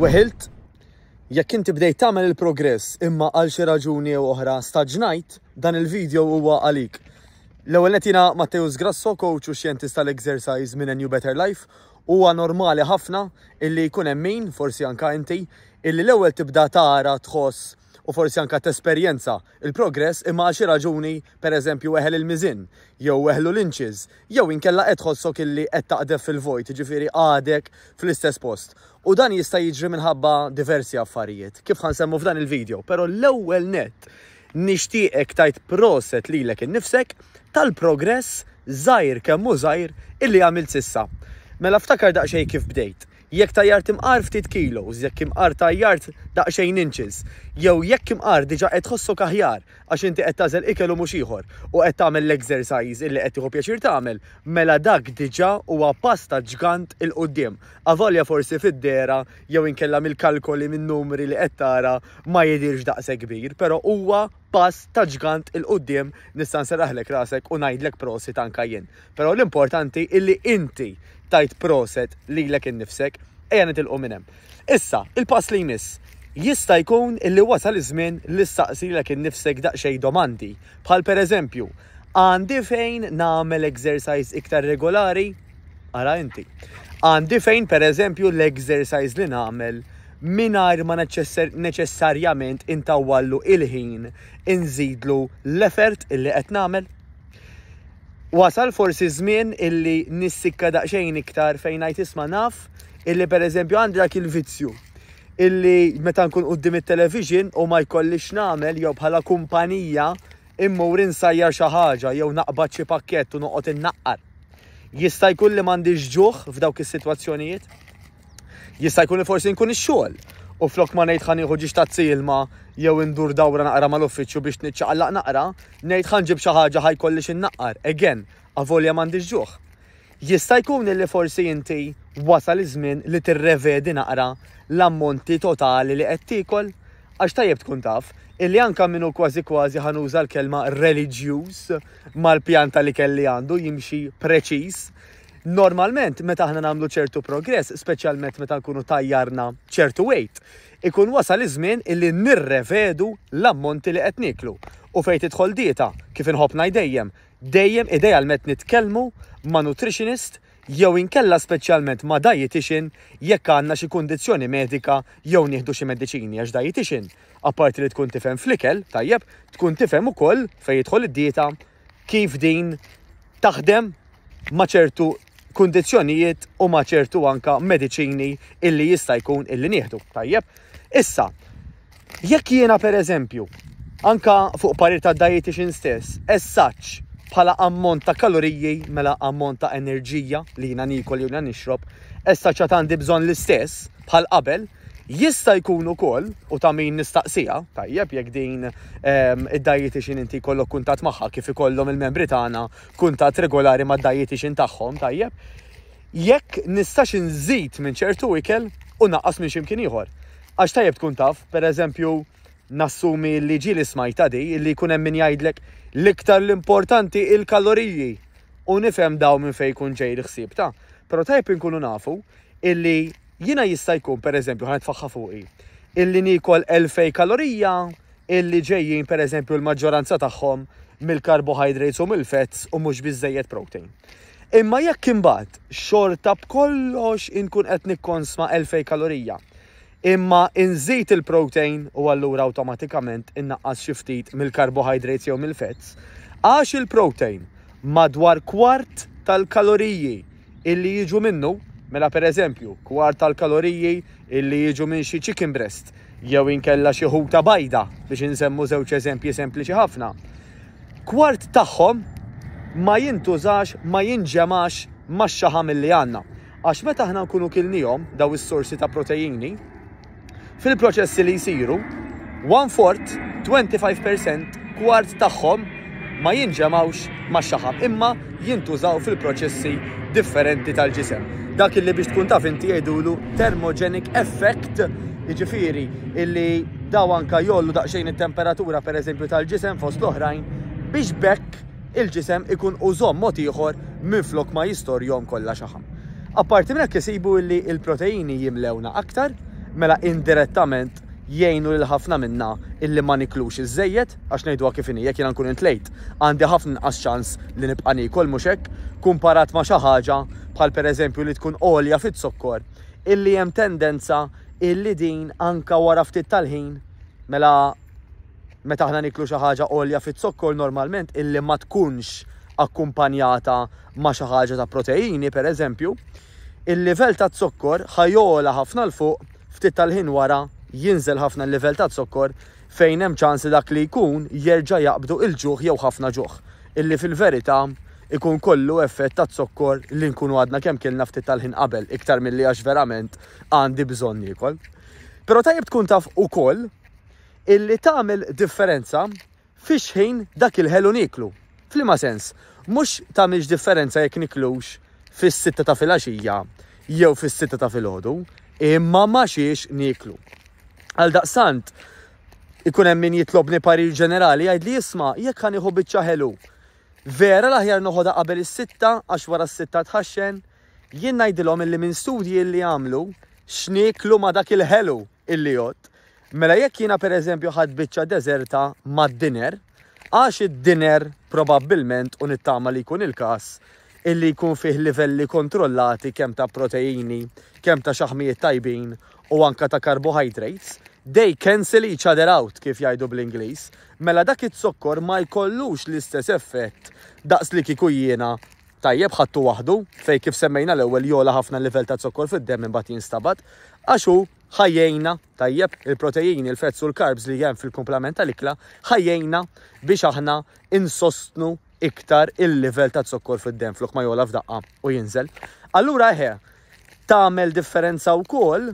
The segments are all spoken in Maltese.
Weħilt, Jekk inti bdejt tagħmel il-progress imma għal xi raġuni jew oħra staġnajt, dan il-video huwa għalik. L-ewwel net jiena Matteus Grasso, coach u xjentist tal-exercise minn New Better Life, huwa normali ħafna illi jkun hemm min, forsi anka inti, illi l-ewwel tibda tara tħoss u forsi anke tesperjenza l-progress imma għal xi raġuni, per eżempju, eħel il-miżien jew eħlu l-inches jew inkella qed tħossok illi qed taqdef fil-vojt, jiġifieri għadek fl-istess post. U dan jista' jiġri minħabba diversi affarijiet, kif ħa nsemmu f'dan il-video. Però l-ewwel nett nixtieqek tgħid proset lilek innifsek tal-progress żgħir kemm hu żgħir illi għamilt s'issa. Mela ftakar daqsxejn kif bdejt. Jekk tajjart imqar ftit kilos, jekk imqar tajjart daqsxejn inches, jew jekk imqar diġà qed tħossok aħjar għax inti qed tagħżel ikel u mhux ieħor u qed tagħmel l-exercise illi qed tieħu pjaċir tagħmel, mela dak diġà huwa pass ta' ġgant 'il quddiem, avolja forsi fid-dehra jew inkella mill-kalkoli min-numri li qed tara ma jidhirx daqshekk kbir, però huwa pass ta' ġgant 'il quddiem nista' nserraħlek rasek u ngħidlek prosit anke jien. Però l-importanti hi li inti tgħid proset lilek innifsek. Ejja nitilqu minn hemm. Issa, il-pass li jmiss. Jista' jkun illi wasal iż-żmien li ssaqsi lilek innifsek daqsxejn domandi, bħal pereżempju, Għandi fejn nagħmel exercise iktar regolari? Ara inti. Għandi fejn pereżempju l-exercise li nagħmel mingħajr ma neċessarjament intawwallu il-ħin inżidlu l-effort illi qed nagħmel? Wasal forsi ż-żmien illi nissikka daqsxejn iktar fejn ngħid isma' naf illi pereżempju għandi dak il-vizzju illi meta nkun quddiem it-television u ma jkollix x'nagħmel jew bħala kumpanija immur insajjar xi ħaġa jew naqbad xi pakkett u noqgħod innaqqar. Jista' jkun li m'għandix ġuħ f'dawk is-sitwazzjonijiet? Jista' jkun li forsi nkun ix-xogħol u flok ma ngħid ħan nieħu ġiex tazzi ilma jew indur dawra naqra mal-uffiċċju biex niċċaqallaq naqra, ngħid ħan ġib xi ħaġa ħajkolli xi nnaqqar, again, avolja m'għandix ġuħ. Jista' jkun li forsi inti wasal iż-żmien li tirrevedi naqra l-ammonti totali li qed tiekol? Għax tajjeb tkun taf, illi anka minnu kważi kważi ħanuża l-kelma reliġjuż mal-pjanta li kelli għandu jimxi preċiż, Normalment, meta aħna nagħmlu ċertu progress, speċjalment meta nkunu tajjarna ċertu weight, ikun wasal iż-żmien illi nirrevedu l-ammonti li qed nieklu. U fejn tidħol dieta, kif inħobb ngħid dejjem, dejjem idealment nitkellmu ma' nutritionist jew inkella speċjalment ma' dietitian jekk għandna xi kundizzjoni medika jew nieħdu xi mediċini għax dietitian apparti li tkun tifhem fl-ikel, tajjeb, tkun tifhem ukoll fejn jidħol id-dieta kif din taħdem ma' ċertu kundizzjonijiet u ma' ċertu anka mediċini illi jista' jkun illi nieħdu. Tajjeb, issa, jekk jiena per eżempju, anka fuq parir ta' dietitian stess, essaċ bħala ammont ta' kaloriji mela ammont ta' enerġija li jiena nikol jew nixrob, essaċ għandi bżonn l-istess bħal qabel, Jista' jkun ukoll, u ta' min nistaqsiha, tajjeb, jekk din id-dietician inti jkollok kuntatt magħha kif ikollhom il-membri tagħna kuntatt regolari mad-dietician tagħhom, tajjeb, jekk nistax inżid minn ċertu ikel u naqqas minn xi mkien ieħor. Għax tajjeb tkun taf, pereżempju, nassumi li ġieli smajta di, li jkun hemm min jgħidlek l-iktar l-importanti il-kaloriji u nifhem daw minn fejn jkun ġej l-ħsieb ta'. Però tajjeb inkunu nafu illi Jiena jista' jkun, pereżempju, ħa nitfaħħa fuqi, illi niekol elfej kalorija illi ġejjin, pereżempju, l-maġġoranza tagħhom mill-carbohydrates u mill-fats u mhux biżżejjed protein. Imma jekk imbagħad xorta b'kollox inkun qed nikkonsma elfej kalorija, imma inżid il-protein u allura awtomatikament innaqqas xi ftit mill-carbohydrates jew mill-fats, għax il-protein madwar kwart tal-kaloriji illi jiġu minnu, mela pereżempju, kwart tal-kaloriji illi jiġu minn xi chicken breast jew inkella xi ħuta bajda biex insemmu żewġ eżempji sempliċi ħafna. Kwart tagħhom ma jintużax, ma jinġemax max-xaħam illi għandna. Għax meta aħna nkunu kilnihom daw is-sorsi ta' proteini, Fil-proċessi li jsiru, one fourth, 25 per cent, kwart tagħhom ma jinġemgħux max-xaħam imma jintużaw fil-proċessi differenti tal-ġisem. Dak illi biex tkun taf inti jgħidulu thermogenic effect, jiġifieri illi daw anka jollu daqsxejn it-temperatura pereżempju tal-ġisem fost l-oħrajn biex bekk il-ġisem ikun użom mod ieħor minflok ma jistorjom kollha xaħam. Apparti minn hekk isibu li l-proteini jimlewna aktar, mela indirettament jgħinu lil ħafna minna illi ma niklux iżżejjed, għax ngħiduha kif inhi, jekk jiena nkun intlejt, għandi ħafna inqas ċans li nibqa' niekol, mhux hekk? Kumparat ma' xi ħaġa, bħal pereżempju li tkun għolja fiz-zokkor, illi hemm tendenza illi din anke wara ftit tal-ħin, mela meta aħna nieklu xi ħaġa għolja fiz-zokkor normalment illi ma tkunx akkumpanjata ma' xi ħaġa ta' proteini, pereżempju, il-livell taz-zokkor ħa jogħla ħafna 'l fuq, ftit tal-ħin wara jinżel ħafna l-livell taz-zokkor fejn hemm ċans li dak li jkun jerġa' jaqbdu il-ġuħ jew ħafna ġuħ, illi fil-verità jkun kollu effett taz-zokkor li nkunu għadna kemm kilna ftit tal-ħin qabel iktar milli għax verament għandi bżonn niekol. Però tajjeb tkun taf ukoll illi tagħmel differenza Fix-xħin dak il-ħelu nieklu. F'liema sens? Mhux tagħmilx differenza jekk niklux fis-sitta ta' filgħaxija jew fis-sitta ta' filgħodu, imma ma' xiex nieklu. Għaldaqstant, ikun hemm min jitlobni parir ġenerali jgħidli isma' jekk ħa nieħu biċċa ħelu. Vera l-aħjar noħodha qabel is-sitta għax wara s-sitta tħaxxen? Jien ngħidilhom illi minn studji illi għamlu x'nieklu ma' dak il-ħelu. Illiott, Mela jekk jiena pereżempju ħadt biċċa deżerta mad-dinner, għax id-dinner probabbilment, u nittama li jkun il-każ, illi jkun fih livelli kontrollati kemm ta' proteini, kemm ta' xaħmijiet tajbin u anke ta' carbohydrates, they cancel each other out kif jgħidu bl-Ingliż, mela dak iz-zokkor ma jkollux l-istess effett daqs li kieku jiena Tajjeb, ħadtu waħdu, fejn kif semmejna l-ewwel jogħla ħafna l-livell ta' zokkor fid-demm imbagħad jinstabad, għax hu ħa jgħinna, tajjeb, il-protejini, il-fats u l-carbs li hemm fil-kumplament tal-ikla ħa jgħinna biex aħna insostnu iktar il-livell ta' zokkor fid-demm flok ma jogħla f'daqqa u jinżel. Allura eħe, tagħmel differenza wkoll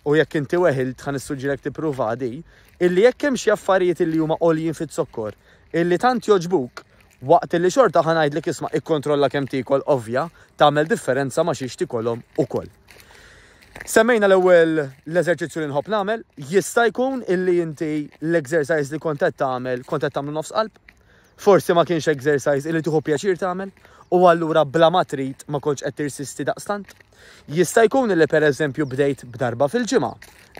u jekk inti weħilt ħa nissuġġirek tippruva di, illi jekk hemm xi affarijiet illi huma għoljin fiz-zokkor, illi tant jogħġbuk Waqt li xorta ħa ngħidlek isma' ikkontrolla kemm tiekol ovvja tagħmel differenza ma' xiex tikolhom ukoll. Semmejna l-ewwel l-eżerċizzju li nħobb nagħmel, jista' jkun illi inti l-exercise li kont qed tagħmel kont qed tagħmlu nofs qalb, forsi ma kienx exercise illi tieħu pjaċir tagħmel u allura bla ma trid ma kontx qed tirsisti daqstant. Jista' jkun illi pereżempju bdejt b'darba fil-ġimgħa,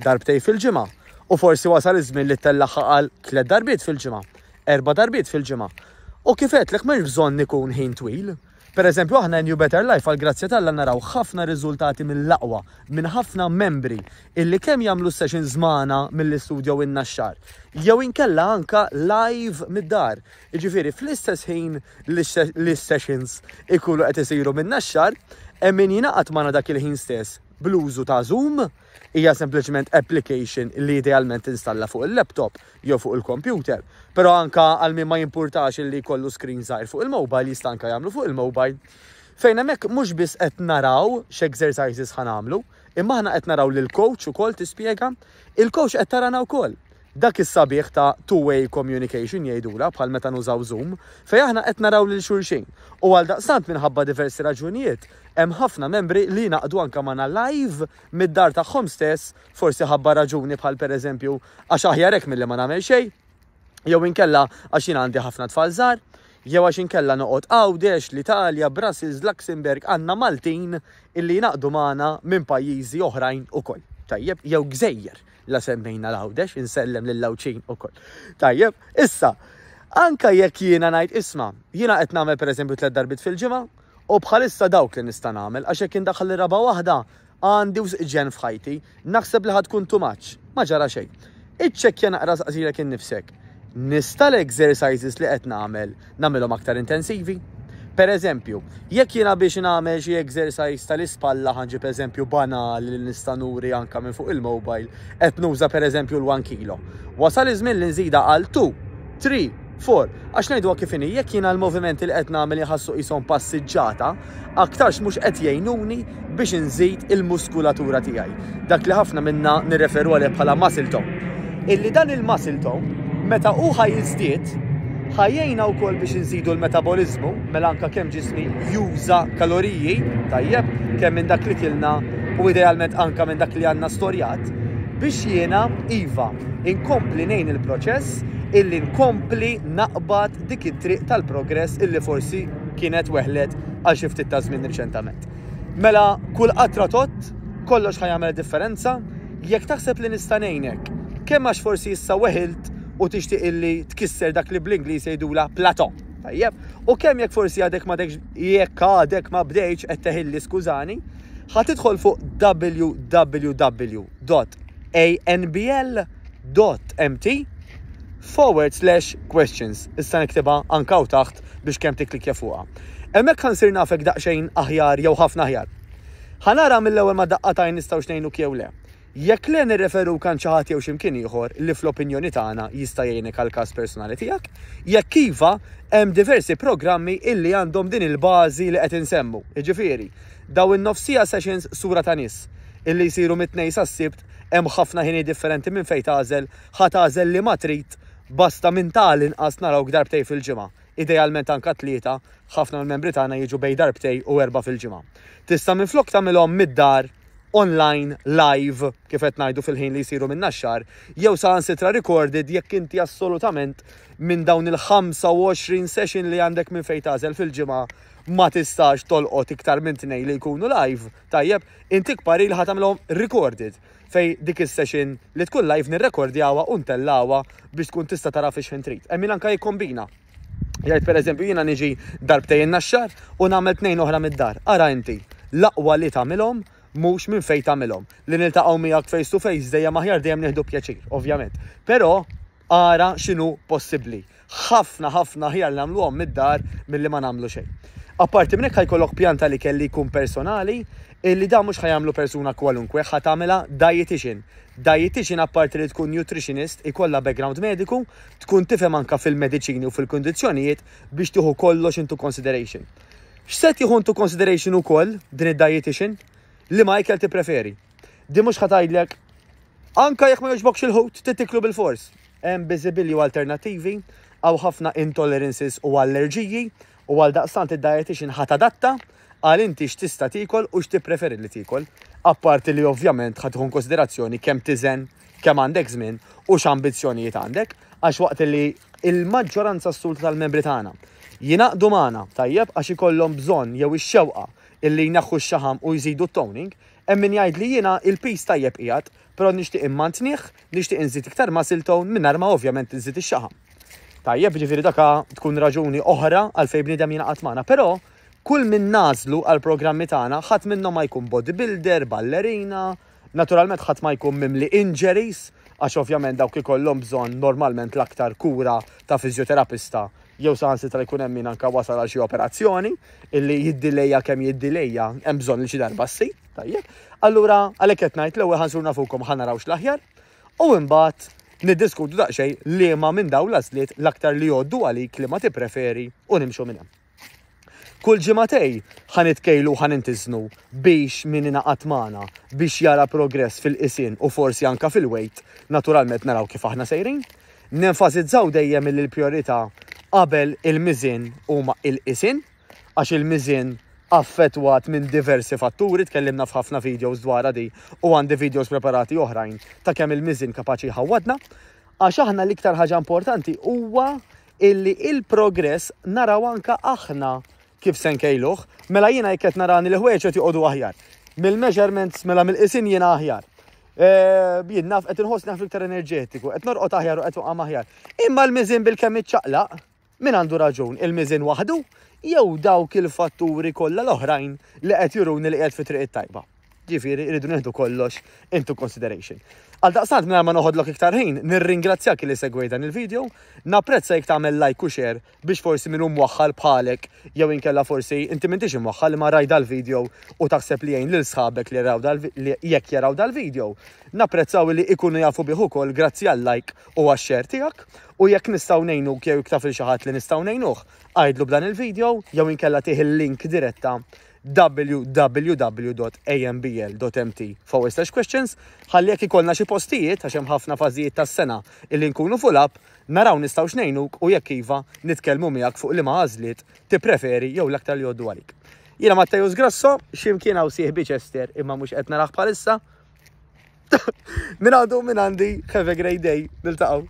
darbtej fil-ġimgħa, u forsi wasal iż-żmien li tellagħha għal tliet darbiet fil-ġimgħa. erba' darbiet fil-ġimgħa. U kif għedtlek m'hemmx bżonn ikun ħin twil. Pereżempju aħna New Better Life għall-grazzja t'Alla naraw ħafna riżultati mill-aqwa minn ħafna membri illi kemm jagħmlu s-sessions magħna milli studjowilna x-xahar jew inkella anke live mid-dar, jiġifieri fl-istess ħin li s-sessions ikunu qed isiru minna x-xahar, hemm min jingħaqad magħna dak il-ħin stess bl-użu ta' Zoom, hija sempliċement application li idealment tinstalla fuq il-laptop, jew fuq il-kompjuter, però anke għal min ma jimpurtax illi jkollu screen żgħir fuq il-mobile jista' anke jagħmlu fuq il-mobile. Fejn hemmhekk mhux biss qed naraw x'exercises ħa nagħmlu, imma aħna qed naraw lil coach ukoll tispjega, il-coach qed tarana wkoll. Dak is-sabiħ ta' two-way communication jgħidulha bħal meta nużaw Zoom, fejn aħna qed naraw lil xulxin. U għaldaqstant minħabba diversi raġunijiet hemm ħafna membri li jingħaqdu anke magħna live mid-dar tagħhom stess, forsi ħabba raġuni bħal pereżempju għax aħjar hekk milli ma nagħmel xejn, jew inkella għax jien għandi ħafna tfal żgħar, jew għax inkella noqgħod Għawdex, l-Italja, Brussels, Luxembourg, għandna Maltin illi jnaqdu magħna minn pajjiżi oħrajn ukoll. Tajjeb, jew gżejjer la semmejna l-Għawdex, insellem lil Lawċin ukoll. Tajjeb, issa, anka jekk jiena ngħid isma, jiena qed nagħmel pereżempju tliet darbit fil-ġimgħa, U bħalissa dawk li nista' nagħmel għax jekk indaħħal ir-raba' waħda, Għandi wisq ġenn f'ħajti. Naħseb li ħa tkun too much. Ma ġara xejn. Iċċekkja naqra saqsilek innifsek, Nista' l-exercises li qed nagħmel, nagħmilhom aktar intensivi? Pereżempju, jekk jiena biex nagħmel xi exercise tal-ispalla ħa nġib eżempju banali li nista' nuri anke minn fuq il-mobile, qed nuża pereżempju l-one kilo. Wasal iż-żmien li nżidha għal two, three, For, għax ngħiduha kif inhi, jekk jiena l-movimenti li qed nagħmel iħassu qishom passiġġata, aktarx mhux qed jgħinuni biex inżid il-muskulatura tiegħi. Dak li ħafna minna nirreferu għalih bħala muscle tone. Illi dan il-muscle tone, meta hu ħa jiżdied, ħajjejna wkoll biex inżidu l-metaboliżmu, mela anka kemm ġismi juża kaloriji, tajjeb, kemm minn dak li kilna u idealment anka minn dak li għandna storjat, biex jiena iva Inkompli ngħin il-proċess illi nkompli naqbad dik it-triq tal-progress illi forsi kienet weħlet għal xi ftit ta' żmien riċentament. Mela kull qatra tot kollox ħajamel differenza jekk taħseb li nista' ngħinek kemm għax forsi issa weħilt u tixtieq illi tkisser dak li bl-Ingliż jgħidula plato. Tajjeb, u kemm jekk forsi għadek ma dekx jekk għadek ma bdejx qed teħilli skużani, ħa tidħol fuq www www.anbl.mt forward slash questions. Issa niktibha anka u taħt biex kemm tikklikja fuqha. Hemmhekk ħansir nafek daqsxejn aħjar jew ħafna aħjar. Ħanara mill-ewwel ma daqqa tajn nistgħu xnejnuk jew le. Jekk le nirreferu kan xi ħadd jew x'imkien ieħor li fl-opinjoni tagħna jista' jgħinek għall-każ personali tiegħek. Jekk iva, hemm diversi programmi illi għandhom din il-bażi li qed insemmu, jiġifieri Daw in-nofsija sessions sura ta' nies, illi jsiru mit-Tnejn sas-Sibt, hemm ħafna ħinijiet differenti minn fejn tagħżel, ħa tagħżel liema trid, basta minn ta' għal inqas narawk darbtejn fil-ġimgħa, idealment anke tlieta, ħafna mill-membri tagħna jiġu bejn darbtejn u erbgħa fil-ġimgħa. Tista' minflok tagħmilhom mid-dar, online, live, kif qed ngħidu fil-ħin li jsiru minna x-xahar, jew saħansitra recorded jekk inti assolutament minn dawn il-25 session li għandek minn fejn tagħżel fil-ġimgħa ma tistax tolqot iktar minn tnejn li jkunu live, tajjeb, intik parir li ħa tagħmilhom recorded fej dik is-session li tkun live nirrekordjawha u ntellgħuha biex tkun tista' tara fix-ħin trid. Hemm min anke jikkombina. Jgħid pereżempju jiena niġi darbtejn naxxar u nagħmel tnejn oħra mid-dar. Ara inti, l-aqwa li tagħmilhom mhux minn fejn tagħmilhom. Li niltaqgħu miegħek face to face dejjem aħjar dejjem nieħdu pjaċir, ovvjament. Però Ara x'inhu possibbli. Ħafna, ħafna aħjar li nagħmluhom mid-dar milli ma nagħmlu xejn. Apparti minn hekk ħa jkollok pjan tal-ikel li jkun personali, illi dan mhux ħa jagħmlu persuna kwalunkwe, ħa tagħmilha dietician. Dietician apparti li tkun nutritionist, ikollha background mediku, tkun tifhem anke fil-mediċini u fil-kundizzjonijiet biex tieħu kollox into consideration. X'se tieħu into consideration ukoll din id-dietician? Liema ikel tippreferi? Di mhux ħatajdlek anka jekk ma jogħġbokx il-ħut titiklu bil-fors. Hemm biżibilji u alternattivi, għaw ħafna intolerances u allerġiji u għal daqstant id-dietitian ħat adatta għal inti x'tista' tiekol u x'tippreferi li tiekol. Apparti li ovvjament ħad tkun konsiderazzjoni kemm tiżen, kemm għandek żmien u x'ambizzjonijiet għandek, għax waqt li il-maġġoranza assoluta tal-membri tagħna jinaqdu magħna tajjeb għax ikollhom bżonn jew ix-xewqa illi jneħħu x-xaħam u jżidu t-toning, Hemm min jgħid li jiena il-piż tajjeb qiegħed, però nixtieq immantinih, nixtieq inżid iktar muscle tone mingħajr ma ovvjament inżid ix-xaħam. Tajjeb, jiġifieri dakha tkun raġuni oħra għalfejn bniedem jingħaqad magħna. Però kull min nagħżlu għall-programmi tagħna ħadd minnhom ma jkun bodybuilder, ballerina, naturalment ħadd ma jkun mimli injuries għax ovvjament dawk ikollhom bżonn normalment l-aktar kura ta' fiżjoterapista jew saħansitra jkun hemm min anke wasal għal xi operazzjoni illi jiddilejja kemm jiddilejja hemm bżonn li xi darba ssir, tajjeb. Allura għalhekk qed ngħid l-ewwel ħansur nafukom ħa naraw x'l-aħjar u imbagħad niddiskutu daqsxejn liema minn dawn l-għażliet l-aktar li jgħoddu għalik li ma tippreferi u nimxu minn hemm. Kull ġimgħatej ħa nitkejlu u ħa nintiżnu biex min ingħaqad magħna biex jara progress fil-qisien u forsi anke fil-wejt, naturalment naraw kif aħna sejrin. Nenfasizzaw dejjem illi l-prijorità qabel il-miżien huma il-qisien għax il-miżien affettwat minn diversi fatturi, tkellimna f'ħafna videos dwarha di u għandi videos preparati oħrajn ta' kemm il-miżien kapaċi jħawwadna. Għax aħna l-iktar ħaġa importanti huwa illi il-progress naraw anka aħna kif se nkejluh, mela jiena jekk qed narani l-ħwejġ qed joqogħdu aħjar. Mill-measurements mela mill-qisin jiena aħjar. Eh, jien naf qed inħoss naf iktar enerġetiku, qed norqod aħjar u qed waqam aħjar. Imma l-miżin bil-kemm iċċaqlaq, min għandu raġun, il-miżin waħdu jew dawk il-fatturi kollha l-oħrajn li qed juruni li qed fi triq it-tajba. Ġifieri rridu nieħdu kollox into consideration. Għal daqstant minn ma noħodlok iktar ħin, nirringrazzjak li segwej dan il-video, napprezza jekk tagħmel like u share biex forsi minn hum waħħal bħalek jew inkella forsi inti m'intix imwaħħal ma raj dal-video u taħseb li jgħin lil sħabek li raw jekk jaraw dal-video. Napprezzaw li ikunu jafu bih ukoll grazzi għal like u għax-share tiegħek u jekk nistgħu ngħinu jew iktaf il xi ħadd li nistgħu ngħinuh, għajdlu b'dan il-video jew inkella tih il-link diretta www.ambl.mt/questions ħalli jekk ikollna xi postijiet, għax hemm ħafna fażijiet tas-sena illi nkunu full up, naraw nistgħux ngħinuk u jekk iva, nitkellmu miegħek fuq liema għażliet tippreferi jew l-aktar li jgħoddu għalik. Jiena Matteus Grasso, x'imkien hawn sieħbi Chester imma mhux qed narah bħalissa. Minn għadu minn għandi, have a great day, niltaqgħu.